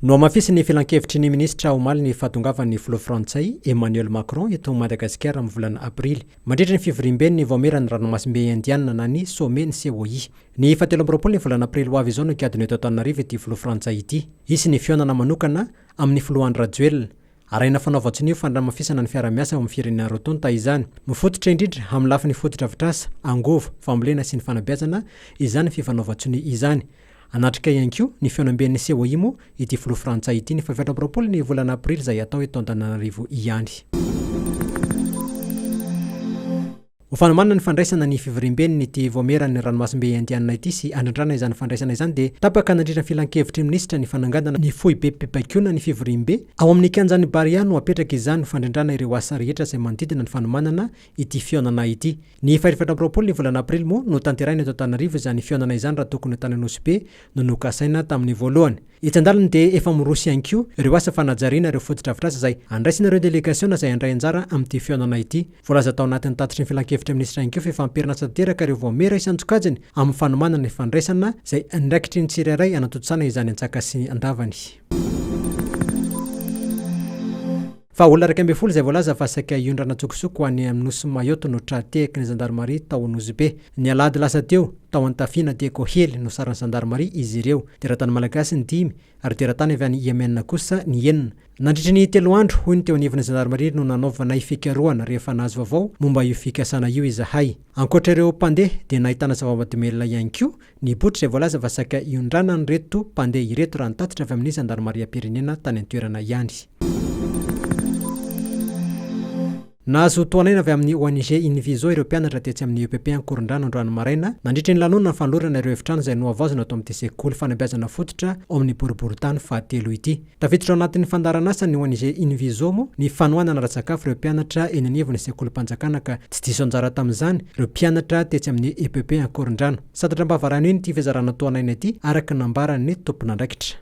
Nohamafisin'ny filankevitry ny minisitra omaly ny fahatongavan'ny filoha frantsay Emmanuel Macron eto Madagasikara amin'ny volana aprily, mandritra ny fivoriamben'ny Vaomieran'ny Ranomasimbe Indianina na ny Sommet ny COI. Ny fahatelo amby roapolo ny volana aprily ho avy izao no higadona eto Antananarivo ity filoha frantsay ity. Hisy ny fihaonana manokana amin'ny filoha Andry Rajoelina. Arahina fanao vatson'io fanramafisana ny fiaraha-miasa ao amin'ny firenena roa tonta izany. Mifototra indrindra amin'ny lafiny fotodrafitrasa, angovo, fambolena sy ny fanabeazana izany fifanaovan-tsonia izany. Hanatrika ihany koa ny fihaonamben'ny Ceoimo ity filoha frantsay ity ny fahaefatra amby roapolo ny volana aprily izay hatao eto Antananarivo ihany. Ho fanomanana ny fandraisana ny fivoriamben'ny ity Vaomieran'ny Ranomasimbe Indianina ity sy handrindrana izany fandraisana izany dia tapaka nandritra ny filankevitry ny minisitra ny fanangandana ny foibem-pibaikoana ny fivoriambe ao amin'ny kianjan'i Barea no hapetraka izany ho fandrindrana ireo asa rehetra izay manodidina ny fanomanana ity fihaonana ity. Ny fahefatra amby roapolo ny volana aprily moa no tanterahina eto Antananarivo izany fihaonana izany raha tokony ho tany Anosibe no nokasaina tamin'ny voalohany. Etsy an-dalany dia efa miroso ihany koa ireo asa fanajariana ireo fotodrafitrasa izay handraisan'ireo delegasiona izay handray anjara amin'ity fihaonana ity. Voalaza tao anatin'ny tatitry ny Filankevitry ny Minisitra ihany koa fa efa ampiharina asa tanteraka ireo voamera isan-tsokajiny amin'ny fanomanana ny fandraisana izay andraikitry ny tsirairay hanatontosana izany an-tsakasy an-davany. Fa olona iraika ambin'ny folo izay voalaza fa saika hiondrana an-tsokosoko ho any amin'ny nosy Mayotte no tra-tehaky ny zandarimaria tao Nosy Be. Ny alahady lasa teo, tao Antafiana dia koa hely no sarin'ny zandarimaria izy ireo. Teratany malagasy ny dimy ary teratany avy any Yemen kosa ny enina. Nandritry ny telo andro, hoy ny teo anivon'ny zandarimaria no nanaovanay fikarohana rehefa nahazo vaovao momba io fikasana io izahay. Ankoatra ireo mpandeha dia nahitana zava-mahadomelina ihany koa Ny botry izay voalaza fa saika hiondranan'ireto mpandeha ireto raha nitatitra avy amin'ny zandarimariam-pirenena tany an-toerana ihany. Nahazo tohan'aina avy amin'ny ONG Inviso ireo mpianatra tetsy amin'ny epp Ankorondrano androany maraina nandritry ny lanonana fanolorana ireo efitrano izay nohavaozina ato amin'ity sekoly fanabeazana fototra ao amin'ny boriborintany fahatelo ity. Tafiditra ao anatin'ny fandaharan'asany ho an'Ise Invizomo ny fanohanana ara-tsakafo ireo mpianatra eny anivon'ny sekolim-panjakana ka tsy diso anjara tamin'izany ireo mpianatra tetsy amin'ny EPP Ankorondrano. Santatra am-pahavarano iny ity fizarana toa an'aina ity araka ny nambaran'ny tompon'andraikitra.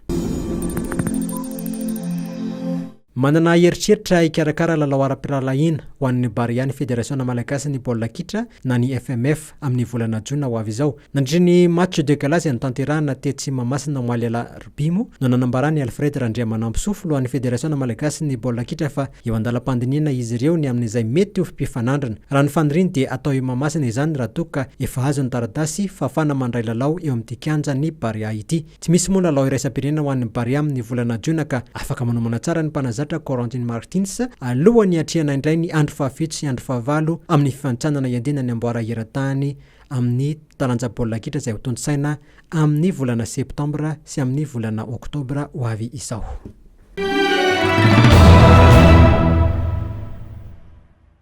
Manana eritreritra hikarakara lalao ara-pirahalahiana ho an'ny Barea ny Federasiona Malagasin'ny Baolina Kitra na ny FMF. amin'ny volana jona ho avy izao. Nandritra ny match de gala izay notanterahina tetsy Mahamasina omaly alarobimo no nanambara an'i Alfred Randriamanampisoa filohan'ny federasiona malagasin'ny baolina kitra fa eo andalam-pandinihana izy ireo ny amin'izay mety ho mpifanandrina. Raha ny faniriany dia atao eo Mahamasina izany raha toa ka efa azo ny taratasy fahafahana mandray lalao eo amin'ity kianjan'ny Barea ity. Tsy misy moa lalao iraisam-pirenena ho an'ny Barea amin'ny volana Jiona ka afaka manomana tsara ny mpanazatra Corentin Martins alohan'ny hiatrehana indray ny andro fahafito sy andro fahavalo amin'ny fifanintsanana hiandenan'ny amboara eran-tany amin'ny taranja baolina kitra izay hotontosaina amin'ny volana Septambra sy amin'ny volana Oktobra ho avy izao.